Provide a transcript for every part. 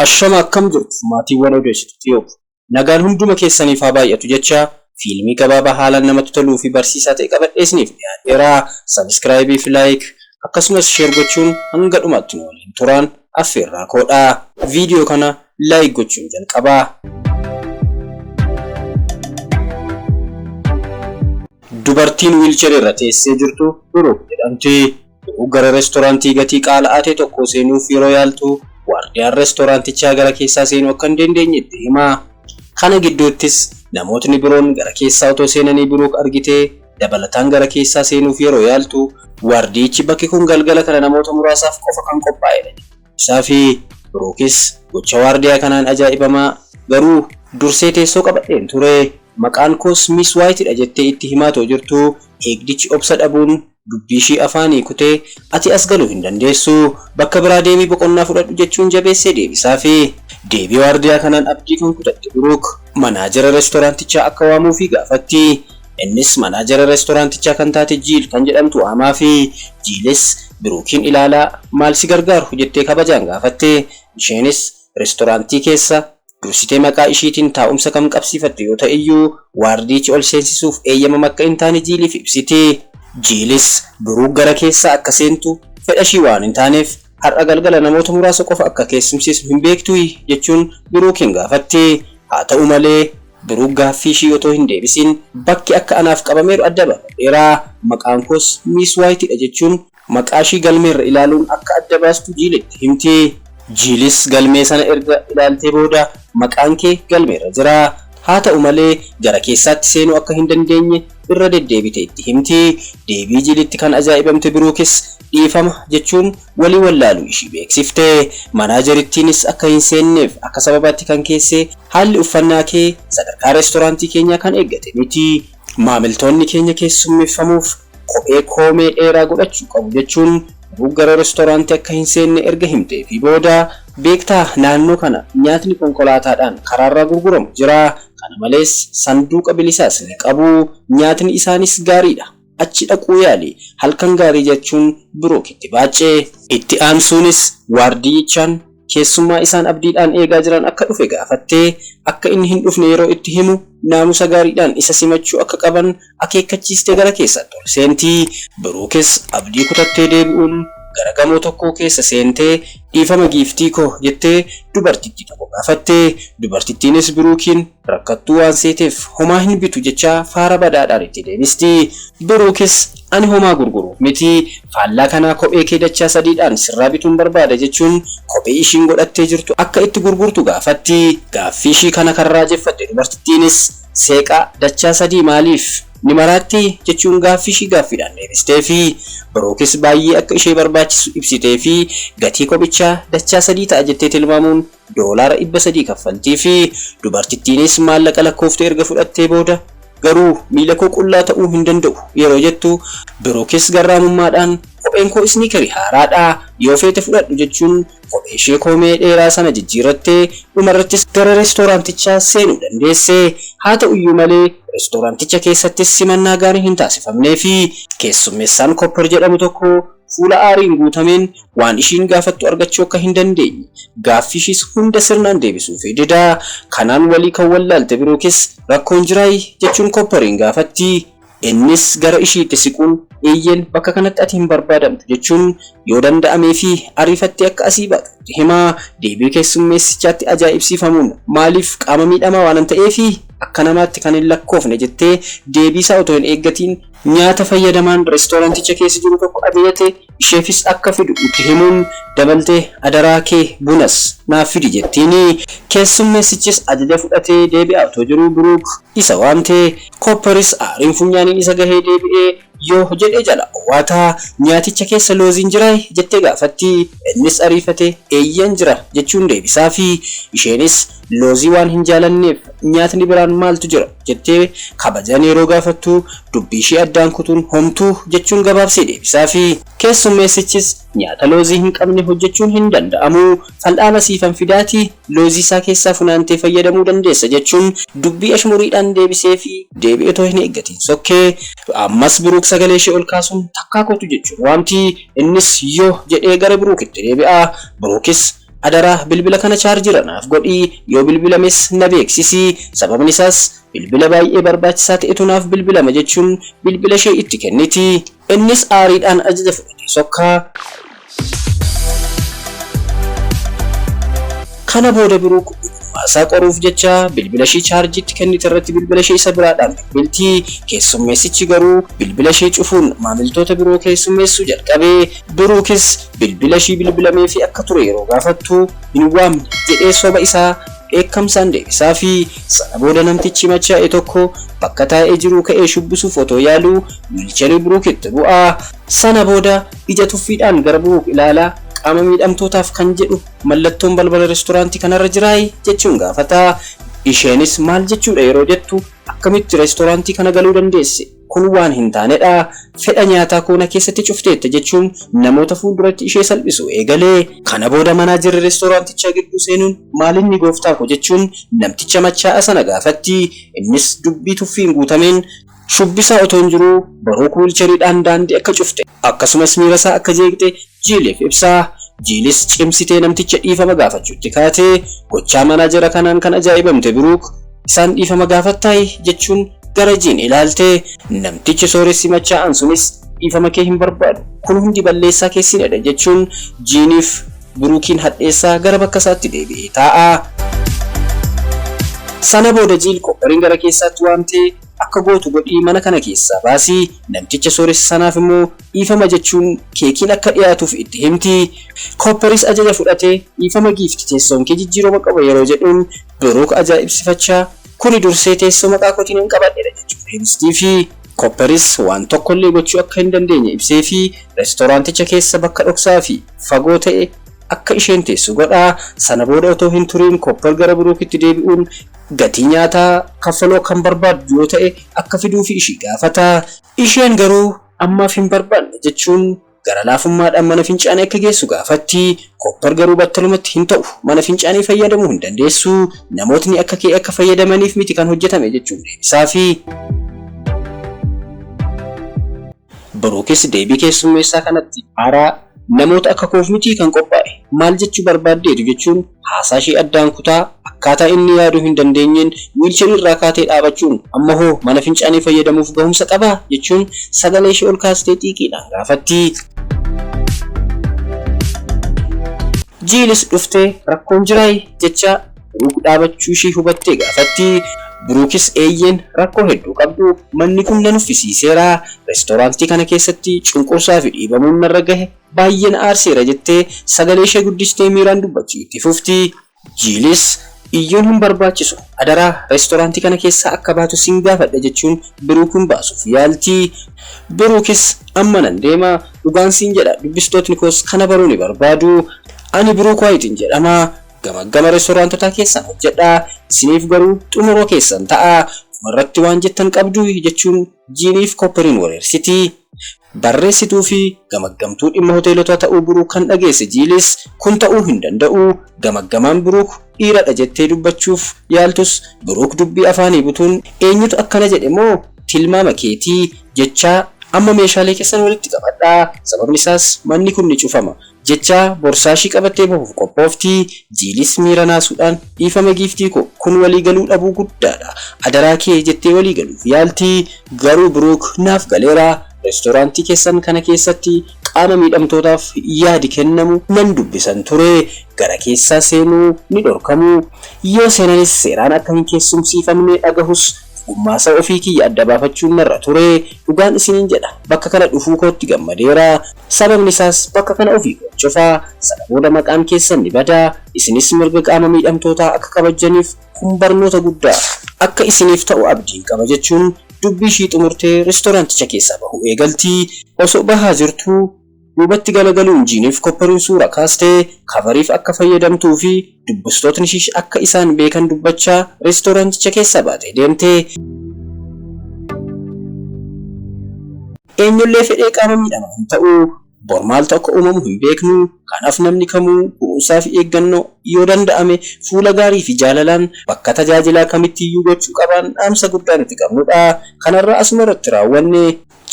Ashama akkam jirtu maatiiwwan odeessitu Tiyoob. Nagaan hunduma keessaniif haa baay'atu jechaa fiilmii gabaabaa haalaan namatti toluu fi barsiisaa ta'e qabadhee isiniif dhiyaadheera. Sabiskiraayibii fi laayik akkasumas sheer gochuun hanga dhumaatti nu waliin turaan affeerraa koodha. Viidiyoo kana Like gochuun jalqabaa. Dubartiin wiilcherii irra teessee jirtu Biruuk jedhamti. Biruuk gara reestooraantii gatii qaala'aa ta'e tokkoo seenuuf yeroo yaaltu, waardiyaan reestooraantichaa gara keessaa seenuu akka hin dandeenye itti hima. Kana gidduuttis namootni biroon gara keessaa otoo seenanii Biruuk argitee dabalataan gara keessaa seenuuf yeroo yaaltu, waardiyichi bakki kun galgala kana namoota muraasaaf qofa kan qophaa'edha jedha. Isaa fi Biruukis gocha waardiyaa kanaan ajaa'ibamaa, garuu dursee teessoo qabadheen ture, maqaan koos Miis Waayit dha jettee itti himaa otoo jirtuu eegdichi obsa dhabuun dubbii ishii afaanii kutee Ati as galuu hin dandeessu, bakka biraa deemii boqonnaa fudhadhu jechuun jabeessee deebisaafi. Deebii waardiyaa kanaan abdii kan kutatte Biruuk manaajera restoraantichaa akka waamuufii gaafatti. Innis manaajera restoraantichaa kan taate Jiil kan jedhamtu waamaafi. Jiilis Biruukiin ilaalaa maal si gargaaru? jettee kabajaan gaafatte. Isheenis restoraantii keessa dursitee maqaa ishiitiin taa'umsa kan qabsiifatte yoo ta'eyyuu, waardiyichi ol seensisuuf eeyyamama akka hin taane Jiiliif ibsiti. Jiilis Biruuk gara keessa akka seentu fedhashii waan hin taaneef, Har'a galgala namoota muraasa qofa akka keessumsiisnu hin beektuuyi? jechuun Biruukiin gaafatti. Haa ta'u malee, Biruuk gaaffii ishii otoo hin deebisiin, Bakki akka anaaf qabameeru adda baafadheera, maqaan koos Miis Waayiti dha jechuun maqaa ishii galmeerra ilaaluun akka adda baastu Jiilitti himti. Jiilis galmee sana erga ilaaltee booda, Maqaan kee galmeerra jira. Haa ta'u malee, gara keessaatti seenuu akka hin dandeenye irra deddeebite itti himti. Deebii Jiilitti kan ajaa'ibamte Biruukis dhiifama jechuun walii wallaaluu ishii beeksifte. Manaajerittiinis akka hin seenneef akka sababaatti kan keesse haalli uffannaa kee sadarkaa reestoraantii keenyaa kan eeggate miti. Maamiltoonni keenya keessummeeffamuuf kophee koomee dheeraa godhachuu qabu jechuun Biruuk gara reestoraantii akka hin seenne erga himteefii booda Beektaa naannoo kana nyaatni konkolaataadhaan karaarraa gurguramu jira. Kana malees, sanduuqa bilisaas ni qabu. Nyaatni isaaniis gaariidha. Achi dhaquu yaali. Halkan gaarii jechuun Biruuk itti baacce. Itti aansuunis waardiyyichaan keessummaa isaan abdiidhaan eegaa jiran akka dhufe gaafatte. Akka inni hin dhufne yeroo itti himu naamusa gaariidhaan isa simachuu akka qaban, akeekkachiistee gara keessatti ol seenti. Biruukis abdii kutattee deebi'uun gara gamoo tokkoo keessa seentee Dhiifama giiftii koo jettee dubartittii tokko gaafatte. Dubartittiinis Biruukiin rakkattuu waan seeteef homaa hin bitu jechaa faara badaadhaan itti deebisti. Biruukis Ani homaa gurguruuf miti, faallaa kanaa kophee kee dachaa sadiidhaan sirraa bituun barbaada jechuun kophee ishiin godhattee jirtu akka itti gurgurtu gaafatti. Gaaffii ishii kana kan raajeffatte dubartittiinis. Seeqaa dachaa sadii maaliif? Ni maraattii? jechuun gaaffiishii gaaffiidhaan deebisteefii. Biruukis baay'ee akka ishee barbaachisu ibsiteefii gatii kophichaa dachaa sadii ta'a jettee tilmaamuun doolaara dhibba sadii kaffaltiifi. Dubartittiinis maallaqa lakkoofte erga fudhattee booda Garuu miilakoo qullaa ta'uu hin danda'u yeroo jettu, Biruukis garraamummaadhaan Kopheenkoo isniikerii haaraadha, yoo feete fudhadhu jechuun Kopheeshee koomee dheeraa sana jijjiirrattee dhumarrattis gara reestooraantichaa seenuu dandeesse. Haata'uyyuu malee, reestooraanticha keessattis simannaa gaariin hin taasifamneefi. Keessummeessaan Koopper jedhamu tokko fuula aariin guutameen waan ishiin gaafattu argachuu akka hin dandeenye, gaaffiishiis hunda sirnaan deebisuufii dida. Kanaan walii kan wallaalte Biruukis, Rakkoon jiraayi? jechuun Koopperiin gaafatti. Innis gara ishiitti siquun, Eeyyeen, bakka kanatti ati hin barbaadamtu, jechuun yoo danda'amee fi ariifattee akka asii baatu itti hima. Deebii keessummeessichaatti ajaa'ibsiifamuun, Maaliif, qaama miidhamaa waanan ta'eefi? Akka namaatti kan hin lakkoofne, jettee deebiisaa otoo hin eeggatiin, nyaata fayyadamaan restooranticha keessa jiru tokko ajajate isheefis akka fidu itti himuun dabaltee adaraa kee bunas naaf fidi jettiin. Keessummeessichis ajaja fudhatee deebi'aa otoo jiruu Biruuk isa waamte. Koopparis aariin funyaaniin isa gahee deebi'ee yoo jedhee jalaa owwaata. Nyaaticha keessa looziin jiraay? jettee gaafatti. Innis ariifatee eeyyen jira jechuun deebisaafi. Isheenis Loozii waan hin jaalanneef nyaatni biraan maaltu jira? jettee kabajaan yeroo gaafattu, dubbiishee addaan kutuun homtuu jechuun gabaabsee deebisaafi. Keessummeessichis nyaata loozii hin qabne hojjechuun hin danda'amu, fal'aana siifan fidaatii loozii isaa keessaa funaantee fayyadamuu dandeessa jechuun dubbii ashmuriidhaan deebiseefi. Deebii otoo hin eeggatiin sokke. Ammas Biruuk sagaleeshee ol kaasuun takkaa kootu jechuun waamti. Innis yoo jedhee gara Biruukitti deebi'a. Biruukis Adara bilbila kana chaarjira naaf godhi yoo bilbilames na beeksisi sababni isaas bilbila baay'ee barbaachisaa ta'etu naaf bilbilama jechuun bilbila ishee itti kenniti. Innis aariidhaan ajaja fudhatee sokka. Kana booda Biruuk ogummaa isaa qoruuf jecha bilbila ishee chaarjii itti kennite irratti bilbila ishee isa biraadhaan bilbilti. Keessummeessichi garuu bilbila ishee cufuun maamiltoota biroo keessummeessuu jalqabe. Biruukis Bilbila ishii bilbilameefii akka ture yeroo gaafattu hin waamne jedhee soba isaa dheekkamsaan deebisaafi. Sana booda namtichi machaa'e tokko bakka taa'ee jiruu ka'ee shubbisuuf otoo yaaluu wiilcherii Biruuk itti bu'a. Sana booda ija tuffiidhaan gara Biruuk ilaala, qaama miidhamtootaaf kan jedhu mallattoon balbala restoraantii kanarra jiraay? jechuun gaafata. Isheenis maal jechuudha yeroo jettu akkamitti restoraantii kana galuu dandeesse? Kun waan hin taanedha. Fedha nyaataa koo na keessatti cufteetta, jechuun namoota fuulduratti ishee salphisuu eegale. Kana booda manaajerri restoraantichaa gidduu seenuun maalinni gooftaa koo jechuun namticha machaa'aa sana gaafatti. Innis dubbii tuffiin guutameen shubbisaa otoon jiruu Baruuk wiilcheriidhaan daandii akka cufte, akkasumas miirasaa akka jeeqxe Jiiliif ibsa. Jiilis cimsitee namticha dhiifama gaafachuutti kaate. Gochaa manaajera kanaan kan ajaa'ibamte Biruuk, Isaan dhiifama gaafattaayii? jechuun gara Jiin ilaalte. Namtichi sooressi machaa'aan sunis dhiifama kee hin barbaadu. Kun hundi balleessaa keessina dha, jechuun Jiiniif Biruukiin hadheessaa gara bakka isaatti deebi'ee taa'a. Sana booda Jiil Koopparin gara keessaatti waamtee, Akka gootu godhii mana kana keessaa baasi. Namticha sooressa sanaaf immoo dhiifama jechuun keekiin akka dhiyaatuuf itti himti. Koopperis ajaja fudhate, Dhiifama Giifti, teessoon kee jijjiiroma qaba yeroo jedhuun, Biruuk ajaa'ibsifachaa, Kuni dursee teessoo maqaa kootiin hin qabadhedha jechuun deebistiifi. Koopperis waan tokkollee gochuu akka hin dandeenye ibseefii, restoraanticha keessa bakka dhoksaafi fagoo ta'e akka isheen teessu godha. Sana booda otoo hin turiin Koopper gara Biruukitti deebi'uun gatii nyaataa kaffaluu kan barbaaddu yoo ta'e akka fiduufi ishii gaafata. Isheen garuu Ammaaf hin barbaanne jechuun gara laafummaadhaan mana fincaanii akka geessu gaafatti. Koppar garuu battalumatti hin ta'u. Mana fincaanii fayyadamuu hin dandeessu. Namootni akka kee akka fayyadamaniif miti kan hojjetame jechuun deebisaafii. Biruukis deebii keessummeessaa kanatti. Haaraa, Namoota akka koof mitii kan qophaa'e. Maal jechuu barbaaddeetu? jechuun. Haasaa ishee addaan kutaa, akkaataa inni yaaduu hin dandeenyeen wiilcherii irraa kaatee dhaabachuun, Amma hoo mana fincaanii fayyadamuuf gahumsa qabaa? jechuun sagalee ishee ol kaasitee xiiqiidhaan gaafatti. Jiilis dhuftee, Rakkoon jiraayi? jechaa Biruuk dhaabachuu ishee hubattee gaafatti. Biruukis Eeyyeen, rakkoo hedduu qabdu. Manni kun na nuffisiiseera. Reestooraantii kana keessatti cunqursaa fi dhiibamuun narra gahe baay'ee na aarseera jettee sagalee ishee guddistee miiraan dubbachuu itti fufti. Jiilis, Iyyuun hin barbaachisu, adaraa restoraantii kana keessaa akka baatu sin gaafadha jechuun Biruukin baasuuf yaalti. Biruukis, Amma nan deema, dhugaan siin jedha dubbistootni koos kana baruu ni barbaadu. Ani Biruuk Waayitin jedhama. Gamaggama restoraantotaa keessan hojjedha. Isiniif garuu xumura keessan ta'a. Dhumarratti waan jettan qabduu? jechuun Jiiniif Koopperin wareersiti. Barreessituu fi gamaggamtuu dhimma hoteelotaa ta'uu Buruuk kan dhageesse Jiilis, kun ta'uu hin danda'u, gamaggamaan Buruuk dhiira dha jettee dubbachuuf yaaltus, Buruuk dubbii afaanii butuun eenyutu akkana jedhe moo tilmaama keeti? jechaa, Amma meeshaalee keessan walitti qabadhaa, sababni isaas manni kun ni cufama. Jecha borsaashii qabattee bahuuf qophoofti. Jiilis miira naasuudhaan Dhiifama giiftii koo, kun walii galuu dhabuu guddaadha. Adaraa kee jettee walii galuuf yaalti. Garuu Biruuk, naaf galeera. Reestooraantii keessan kana keessatti qaama miidhamtootaaf yaadi kennamu nan dubbisan ture. Gara keessaa seenuu ni dhorkamu. Yoo seenanis seeraan akka hin keessumsiifamne dhagahus Gummaasaa ofii kiyya adda baafachuun narra ture. Dhugaan isiniin jedha, bakka kana dhufuu kootti gammadeera. Sababni isaas bakka kana ofii koon cufa. Sana booda maqaan keessan ni bada. Isinis mirga qaama miidhamtootaa akka kabajjaniif kun barnoota guddaa. akka isiniif ta'u abdiin qaba jechuun dubbii ishii xumurtee restooraanticha keessaa bahuu eegalti. Osoo bahaa jirtuu. Duubatti galagaluun Jiiniif Koppariin suuraa kaaste kavariif akka fayyadamtuu fi dubbistootni ishii akka isaan beekan dubbachaa reestooraanticha keessaa baatee deemte. Eenyullee fedhee qaama miidhamaa hin ta'u. Bor maaltu akka uumamu hin beeknu. Kanaaf namni kamuu kunuunsaa fi eeggannoo, yoo danda'ame fuula gaarii fi jaalalaan bakka tajaajilaa kamittiyyuu gochuu qabaan dhaamsa guddaa nuti qabnudha. Kanarraa asuma irratti raawwanne.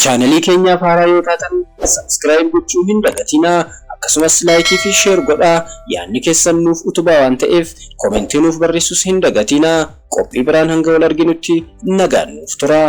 Channel keenyaaf haaraa yoo taatan subscribe gochuu hin dagatinaa akkasumas like fi share godhaa yaadni keessan nuuf utubaa waan ta'eef comment nuuf barreessuus hin dagatinaa qophii biraan hanga wal arginutti nagaan nuuf turaa.